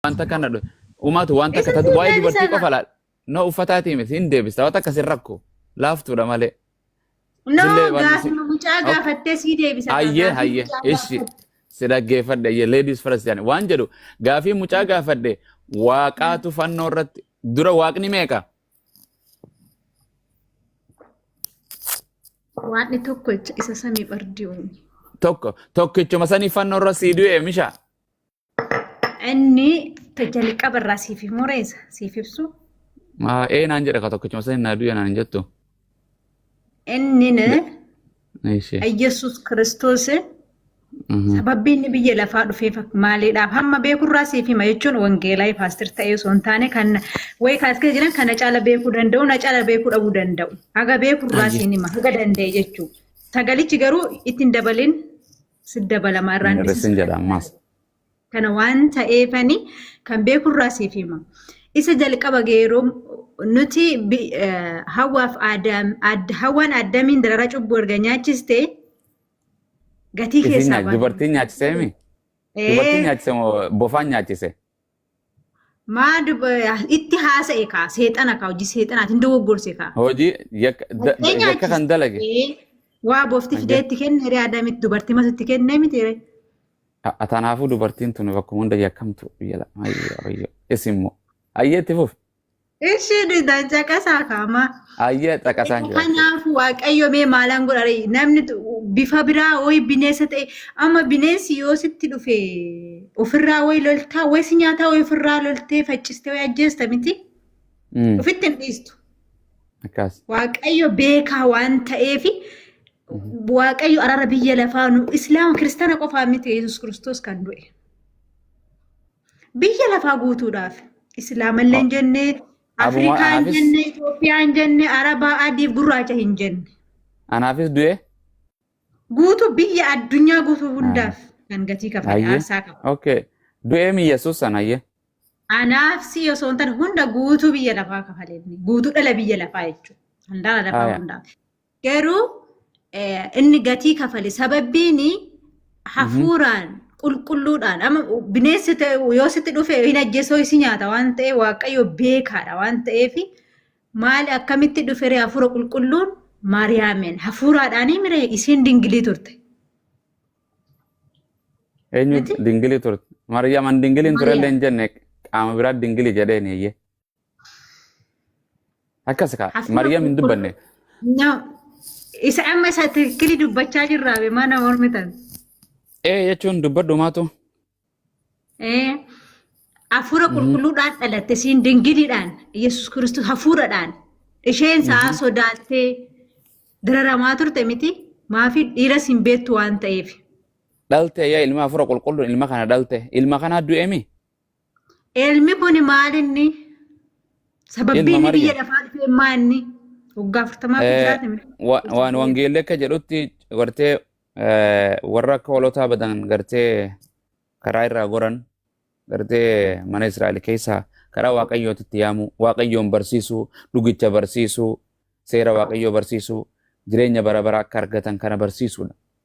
wanta kana dho- umaatu wanta Isa kana waa'ee fuudheen dubartii sana. qofa laal no uffataatii miti hin deebista wanta akkas hin rakko laaftuudha malee No, Dillee waan gaafi si- mucaa Ok. gaafattee sii deebisa. hayyee Gaafi hayyee mucaa ishi gaafatte. si dhaggeeffadhe hayyee ladies first jedhani waan jedhu gaafii mucaa gaafadhe waaqaatu fannoo irratti dura waaqni meeqa Waaqni tokko jecha isa samii bardi'uun. tokko tokkichuma sanii fannoo irra sii du'e mishaa Inni jalqaba irraa siif hin mureessa siif ibsu. Maa ee naan jedha ka tokkichuma sani naa du'e naan jettu. Inni Eeshi. Yesuus Kiristoos Mhm. sababii inni biyya lafaa dhufeef maaliidhaaf hamma beekurraa siif hima jechuun wangeelaa paastir ta'ee osoo hin taane kan wayi kaas keessa jiran kana caala beekuu danda'u na caala beekuu dhabuu danda'u haga beekurraa Ayye. siin hima haga danda'e jechuudha. Sagalichi garuu ittiin dabalin Sin dabalama Hin irraan hir'isin dhisis. jedha ammaas. Kana waan ta'eefani kan beeku irraa siif hima. Isa jalqaba geeroo nuti bi- eh, hawaaf aadaam, aad, hawaan addamiin dararaa cubbuu erga nyaachiste gatii Isiin keessaa nyaachise. baate. Dubartiin nyaachisee mi? Dubartiin Ee, nyaachise moo bofaan nyaachise? Maa dub- itti haasa'e kaa seexana kaa hojii seexanaati hin dogoggorse kaa. Hojii yakka da- Dhaqee da- yakka kan nyaachise. dalage. Ee, Waa boofti Hanga- fidee itti kenne ree adamitti dubartii matu itti kennee miti ree. A- a- Tanaafuu dubartiin tuni bakkuma hunda yakkamtu biyya la- ayyo ayyo isin immoo ayyeetti fufi. Ishii dhida caqasaa kaamaa. Ayyee caqasaan jira. Kanaaf waaqayyo mee maalaan godhare namni tu- bifa biraa woyi bineensa ta'e amma bineensi yoo sitti dhufe ofirraa woyi loltaa woyi si nyaataa woyi ofirraa loltee faccistee woyi ajjeesta miti Mm, ofitti hin dhiistu. Akkas. Waaqayyo beekaa waan ta'eef waaqayyo araara biyya lafaa nu islaama kiristaana qofaa miti yesus kiristoos kan du'e. Biyya lafaa guutuudhaaf. Islaamallee hin jenne, Afrikaa hin jenne, Itoophiyaa hin jenne, Arabaa adiif gurraacha hin jenne. Anaafis du'e. Guutuu biyya addunyaa guutuu hundaaf kan gatii kafale aarsaa qaba. Okay. Du'ee mi Yesuus san hayyee. Anaaf si osoo hin taane hunda guutuu biyya lafaa kafalee guutuu dhala biyya lafaa jechuudha. Handaara lafaa hundaaf. Garuu inni gatii kafale sababbiin hafuuraan qulqulluudhaan amma bineensi yoo sitti dhufe hin ajjeesoo isi nyaata waan ta'e waaqayyo beekaadha waan ta'eef maali akkamitti dhufere hafuura qulqulluun maariyaameen hafuuraadhaanii mire isiin dingilii turte. Eenyu dingilii turte? Maariyaam an dingilii hin turellee hin jenne qaama biraa dingilii jedheen eeyyee. Akkas kaa Hafnaa Maryam hin qulqulluu. dubbanne. No. Isa amma isa tikkili dubbachaa jirraa be mana mormitan. Ee jechuun dubbadhu maatu. Eh, Hafuura qulqulluudhaan dhalatte siin dingiliidhaan Yesuus Kiristoos hafuuradhaan isheen sa'a sodaattee dararamaa turte miti maafi dhiiras hin beektu waan ta'eef. Dhalte yaa ilma hafuura qulqulluun ilma kana dhalte. Ilma kanaa du'eemi. Ilmi kun maal inni? Sababbiin Ilma inni Maryam. biyya lafaa dhufee maa inni? Waggaa afurtamaa Eh, jiraate miti. wa- waan wangeelli akka jedhutti gartee eh, warra akka hoolotaa badan gartee karaa irraa goran gartee mana Israa'el keessaa karaa waaqayyootti itti yaamuu waaqayyoon barsiisuu dhugicha barsiisuu seera waaqayyoo barsiisuu jireenya bara baraa akka argatan kana barsiisuudha.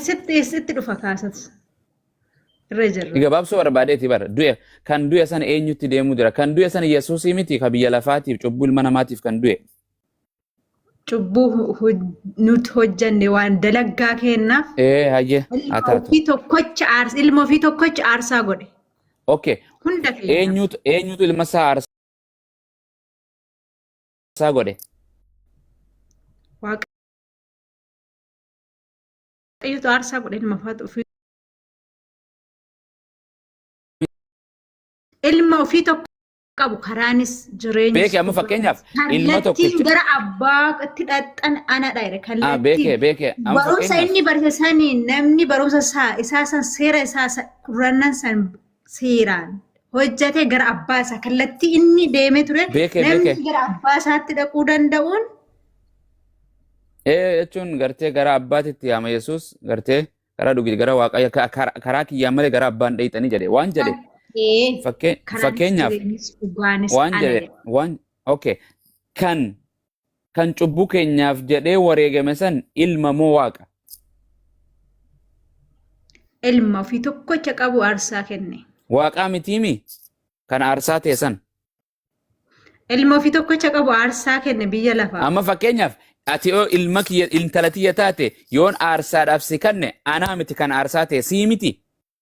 Sitti sitti dhufa kaasas. Irra jirra. Gabaabsuu barbaadeeti bara. Du'e kan du'e sana eenyutti deemuu jira? Kan du'e sana Yesuusii miti kan biyya lafaatiif cubbuu ilma namaatiif kan du'e. Cubbuu nuti hojjanne waan dalaggaa keennaaf. Ee hayyee haa taatu. Ofii tokkocha aarsa ilma ofii tokkocha aarsaa godhe. Okay. Hunda keenya. Eenyutu eenyutu ilma isaa aarsaa godhe? Waaqa Waaqayyotu aarsaa godhe ilma faatu ofii ilma ofii tokko qabu karaanis jireenyis Beeke amma fakkeenyaaf ilma kallattiin tokkicha. gara abbaatti dhaqxan anadha jedhe Ah, beeke kallattiin beeke amma barumsa fakkeenyaaf. inni barsiise saniin namni barumsa isaa isaa san seera isaa san kurrannan san seeraan hojjate gara abbaa isaa kallattii inni deemee ture Beeke, namni beeke. gara abbaa isaatti dhaquu danda'uun Ee jechuun gartee gara abbaatitti yaama Yesuus gartee karaa dhugi gara waaqayyo ka- kar- karaa kiyyaan malee gara abbaan dheeyxanii jedhe waan jedhe ta'ee fakkee- karaan fakkeenyaaf jireenyis dhugaanis waan ana jedhe jedhe. waan okay kan kan cubbuu keenyaaf jedhee wareegame san ilma moo waaqa? Ilma ofii tokkocha qabu aarsaa kenne. Waaqaa mitiimi kan aarsaa ta'e san. Ilma ofii tokkocha qabu aarsaa kenne biyya lafaa. Amma fakkeenyaaf ati yoo ilma kiyya intala tiyya taate yoon aarsaadhaaf si kanne anaa miti kan aarsaa ta'e sii miti.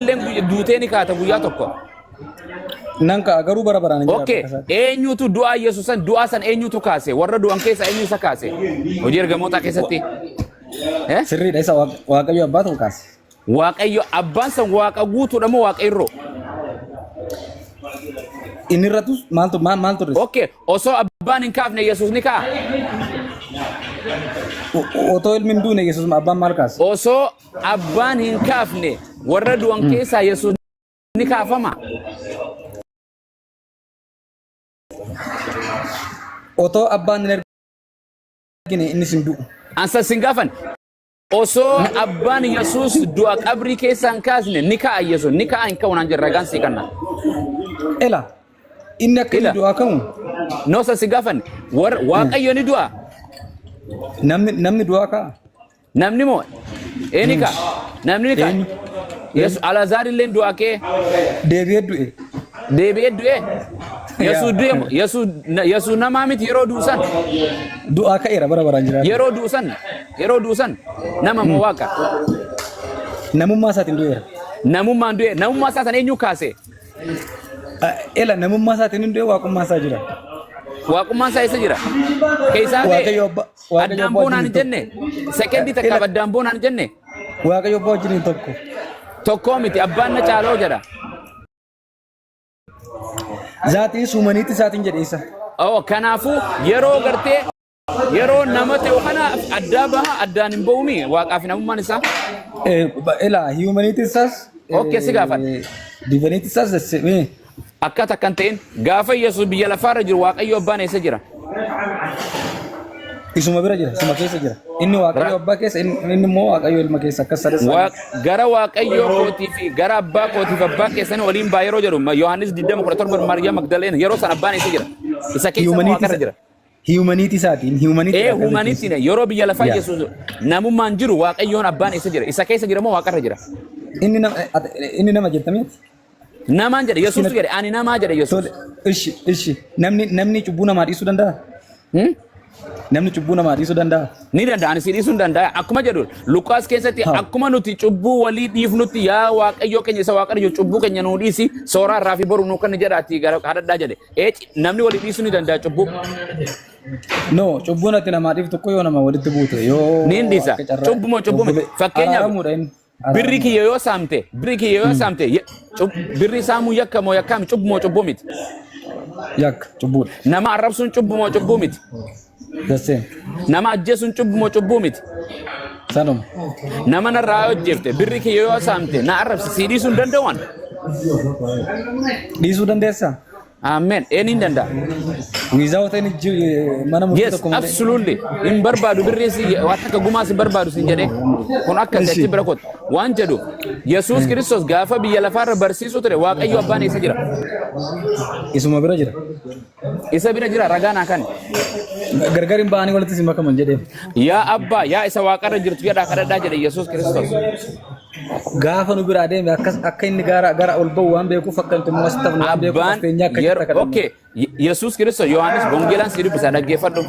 Illeen guyya- duutee ni kaata guyyaa tokko. Nan ka'a garuu bara baraan hin jiraatu Okay. akka isaatti. Eenyutu du'aa Yesuus san du'aa san eenyutu kaase? Warra du'an keessaa eenyu isa kaase? Hojii ergamootaa keessatti. Eh? Sirriidha isa Waaq- Waaqayyo abbaa ta'u kaase. Waaqayyo abbaan san waaqa guutuudha moo waaqa irroo? Inni irrattus maaltu maal maal turre? Okay. Osoo abbaan hin kaafne Yesuus ni ka'a. O- Otoo ilmi hin duune Yesuus abbaan maal kaase? Osoo Abbaan hin kaafne warra du'an keessaa Yesuus ni kaafama. Otoo abbaan hin argine innis hin du'u. Ansa sin gaafan. Osoo abbaan Yesuus du'a qabrii keessaa hin kaasne ni ka'a Yesuus ni ka'a hin ka'u naan jedhe ragaan sii kanna. Ela inni akka inni Ila. du'aa ka'u Noosa si gaafan warra waaqayyo ni du'a. namni namni du'aa ka'a. Namni moo eeni ka namni ka Eenyu? Yesu Alaazaar illee du'a kee Deebi'ee du'e. deebi'ee du'e Yesuus du'e moo Yesuus na- Yesuus namaa miti yeroo du'u san Du'aa ka'eera bara baraan jiraata. yeroo du'u san yeroo du'u san nama moo waaqa Namummaa isaatiin du'eera. namummaan du'e namummaa isaa san eenyu kaase Ah, Ela namummaa isaatiin hin du'e waaqummaa isaa jira. waaqummaan isaa eessa jira keessaa kee Waaqayyo abbaa Waaqayyo Addaan abbaa boonaan hin wajjin jenne. tokko. Sekendii takkaaf Ila- addaan boonaan hin jenne. Waaqayyo abbaa wajjin hin tokko. Tokkoo miti abbaan na caaloo jedha. Zaatii suumaniitti isaatiin jedhe isa. Oo kanaafuu yeroo gartee yeroo nama ta'u kana addaa baha addaan hin ba'uumi waaqaaf hin amummaan isaa. Eh, ba- Ila humanity says. Okay, si gaafadha. Divinity says the same. Akkas akka hin ta'in gaafa Yesuus biyya lafaa irra jiru Waaqayyo Abbaan eessa jira? Isuma bira jira, isuma keessa jira. Inni Waaqayyo Abbaa keessa, inni inni immoo Waaqayyo Ilma keessa akkas sadasa. Waa- Gara Waaqayyoo kootii fi gara Abbaa kootiif Abbaa keessanii waliin baa yeroo jedhu ma- Yohaannis 20:17 Maariyaam Magdaleen yeroo sana Abbaan eessa jira? Isa keessa moo Waaqa irra jira? Hiyumaniitii isaatiin hiyumaniitii Ee akkasii huumanitti keessa. ne yeroo biyya lafaa Yaa. Yesuus namummaan jiru waaqayyoon abbaan eessa jira? Isa keessa jira moo waaqarra jira? Inni nama ati- inni nama jettamee Namaan jedhe Yesuus jedhe ani namaa jedhe Yesuus. tole ishi ishi namni namni cubbuu namaa dhiisuu danda'a? Hmm? Namni cubbuu namaa dhiisuu danda'a? Ni danda'a ani si dhiisuu hin danda'a akkuma jedhu Luqaas keessatti Ha. akkuma nuti cubbuu walii dhiifnutti yaa waaqayyoo keenya isa waaqarra jiru cubbuu keenya nuu dhiisi sooraa irraa fi boru nuu kan jedhaati gara kadhadhaa jedhe. Ee, namni walii dhiisuu ni danda'a cubbuu. No, cubbuun ati namaa dhiiftu tokko yoo nama walitti buute yoo Ni hin dhiisa. akka carraa- Cubbu moo cubbu miti? Obbole- Fakkeenyaaf- araaramuudha inni. Birri kiyya yoo saamte, birri kiyya yoo saamte, ye- cub- birri saamuu yakka moo yakkaa miti? Cubbu moo cubbu miti? Yakka, cubbuudha. Nama arrabsuun cubbu moo cubbu miti? Dassee. Nama ajjeesuun cubbuu moo cubbuu miti? Sanuma. Nama narraa yoo ajjeefte birri kee yoo saamte na arrabsi sii dhiisuu hin danda'an. Dhiisuu dandeessa? Amen. Een hin danda'a. Without any ju- mana murtii Yes, tokko malee. absolutely. Hin barbaadu birri si waan akka gumaa si barbaadu sin jedhee. Kun akka Ishi. gatii bira kooti. Waan jedhu Yesuus Kiristoos gaafa biyya lafaarra barsiisuu ture Waaqayyo abbaan eessa jira? Isuma bira jira. Isa bira jira ragaa naa kan. Gargar hin ba'anii walitti isin makaman jedhee. Yaa abbaa yaa isa waaqarra jirtu jedhaa kadhadhaa jedhe Yesuus Kiristoos. Gaafa nu biraa deeme akkas akka inni gara gara ol ba'u waan beekuuf akka inni tummas ta'u waan beekuuf Abbaan fakkeenyaa akka yeroo jirta okay Yesuus Kiristoos Yohaannis Bongeelaan si dubbisa dhaggeeffadhu.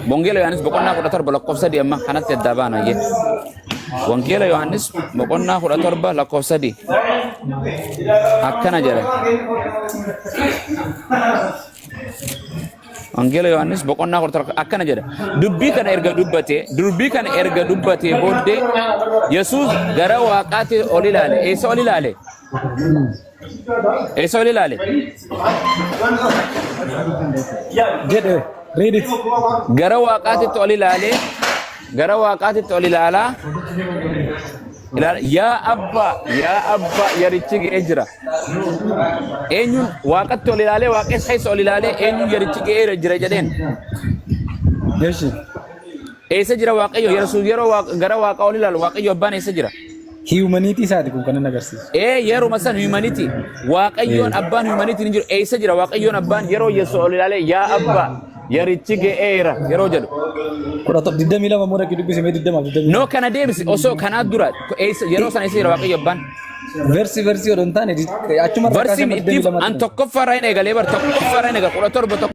Bongeela Yohaannis boqonnaa 17 lakkoofsa 3 amma kanatti addaa baana. Wangeela Yohaannis boqonnaa 17 lakkoofsa 3 akkana jedha. Wangeela Yohaannis boqonnaa 17 akkana jedha. Dubbii kana erga dubbatee dubbii kana erga dubbatee booddee Yesuus gara waaqaatti ol ilaale. Eessa ol ilaale? Eessa ol ilaale? Jedhe. Read it. Gara waaqaatitti ol ilaale. Gara waaqaatitti ol ilaalaa. Ilaala. Yaa abbaa, yaa abbaa, yarichi ga'ee jira. Eenyuun waaqatti ol ilaalee, waaqessa keessa ol ilaalee, eenyuun yarichi ga'ee jira jedheen. Eshi. Eessa jira waaqayyo? Yesuus yeroo waaq- gara waaqaa ol ilaalu waaqayyo abbaan eessa jira? Hiyumaniitii isaati kun kanan agarsiisu. Ee yeruma san humanity waaqayyoon Ee. abbaan humanity ni jiru eessa jira waaqayyoon abbaan yeroo yesu ol ilaalee yaa abbaa yarichi ga'eera yeroo jedhu Kudha tokko digdamii lama immoo dhaqii dubbisi mee digdama fi digdamii noo kana deebisi osoo kanaa dura eessa- yeroo sana eessa jira waaqayyo abbaan Versi versi odoo hin taane di- achuma irraa kaasee barsiin amma digdamii ittiif lamaatti an tokkoffaa irraa hin eegalee bar tokkoffaa irraa hin eegale kudha torba tokko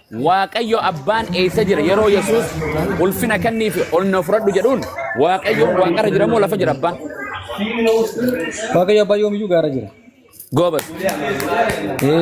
Waaqayyo abbaan eessa jira yeroo Yesuus ulfina kenniif ol na fudhadhu jedhuun Waaqayyoon waaqarra jira moo lafa jira abbaan? Waaqayyo abbaa yoomiyyuu gaara jira. Goobas. Ee.